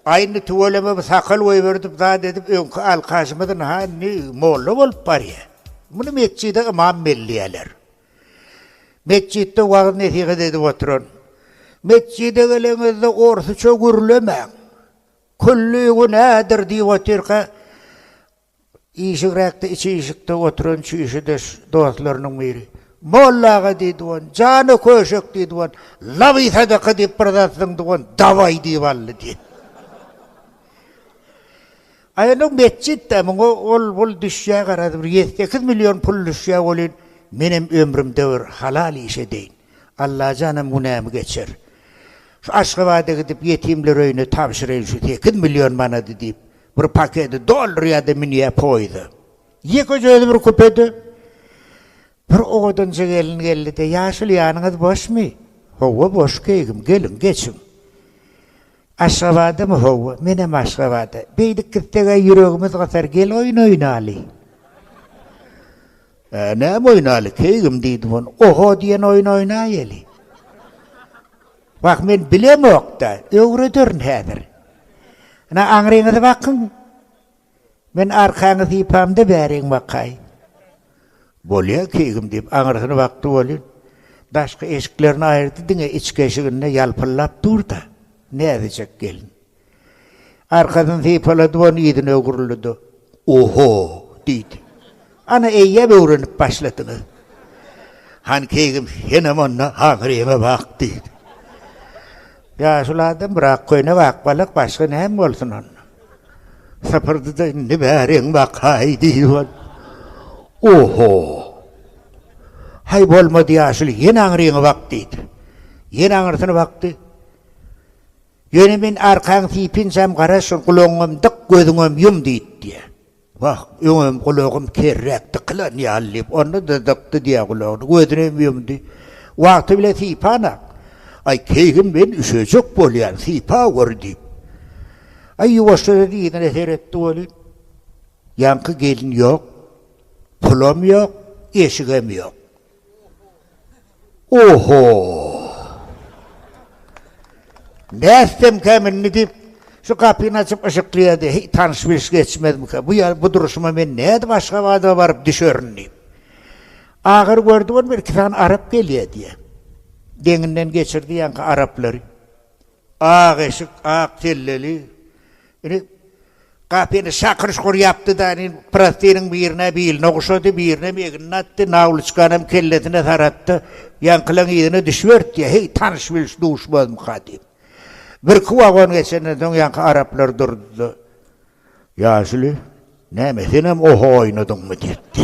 A indi tüweleme bu sakal goýberdip zat edip öňki alkaşymyzyn ha indi molla bolup barýa. Muny metjide ymam belleýäler. Metjitde wagyz nesihat edip oturan. Metjide geleňizde orsuça gürlemäň. Külli günädir diýip otyrka Işigräkde içi işikde oturan çüýşüdeş dostlarynyň biri. Molla aga, diý dogan, jana köşek, diý dogan, laby sadaka diýip bir zat zyň dogan, dabaý diýip aldy, diý. Aý, indi metjit-dä, muňa ol-bul düşýär, garaz, bir ýedi-sekiz million pul düşýär welin, menem ömrümde bir halal iş edeýin. Allajanam günämi geçer. Şu Aşgabada gidip, ýetimler öýüne tabşyraýyn şu sekiz million manady, diýip, Bir pakedi doldurýardy, münýär poýizde. Ýekeje özi bir kupede. Bir owadanja gelin geldi-de, Ýaşuly, ýanyňyz boşmy? Hawa, boş keýgim, geliň, geçiň. Aşgabadamy? Hawa, menem Aşgabada. Beýdip gitseg-ä ýüregimiz gysar, gel oýun oýnaly. Ä, näme oýnaly, keýgim, diýdim, oňa. Oho diýen oýun oýnaýaly. Wah men bilemokda, öwrederin häzir. Ine aňryňyzy bakyň. Men arkaňy sypamda bäriň bakaýyn. Bolýa keýgim diýip aňrysyna bakdy welin, daşky eşiklerini aýyrdy diňe içki eşiginde ýalpyllap dur-da, näzijek gelin. Arkasyny sypalady we yzyna öwrüldi-de, Oho! diýdi. Ana, eýýäm öwrenip başladyňyz. Han keýgim, senem onda haňyr ýeme bak, diýdi. Ýaşuly adam bir ak köýnek, ak balak, başga näme bolsun onda? Sypyrdy-da, Indi bäriň bakaý, diýdi we Oho! Haý, bolmady, ýaşuly, ýene aňryňy bak, diýdi. Ýene aňyrsyna bakdy. Ýöne men arkaň sypynjam gara şol gulagyňam dyk gözüňem ýum diýdi diýýä. Wah, öňem gulagym kerräk dykylan ýaly diýip, onda-da dykdy diýýä gulagyny, gözünem ýumdy. Wagty bile sypan-a. Aý, keýgim men üşejek bolýan, sypa gör diýip. Aý, ýuwaşja-da yzyna seretdi welin, ýaňky gelin ýok, pulam ýok, eşigem ýok. Oho! Bäsdemkäm indi diýip, şu gapyny açyp yşyklaýardy. Heý, tanyş-bilş geçmezmika? Bu ýa, bu durşuma men nädip Aşgabada baryp düşerin diýip. Agyr gördi bolma, bir-iki sany arap gelýär diýýär. Deňinden geçirdi ýaňky araplary. Ak eşik, ak selleli. Indi Gapyny Şakyryş gurýapdy-da, indi prostiniň birine biline guşady, birinem egnine atdy, nawlyçkanam kellesine saratdy. Ýaňkylaň yzyna düşüberipdi-ýa, heý, tanyş-bilş duşmazmyka diýip. Birki wagon geçenden soň ýaňky araplar durdy-da. Ýaşuly, näme, senem oho oýnadyňmy? diýipdi.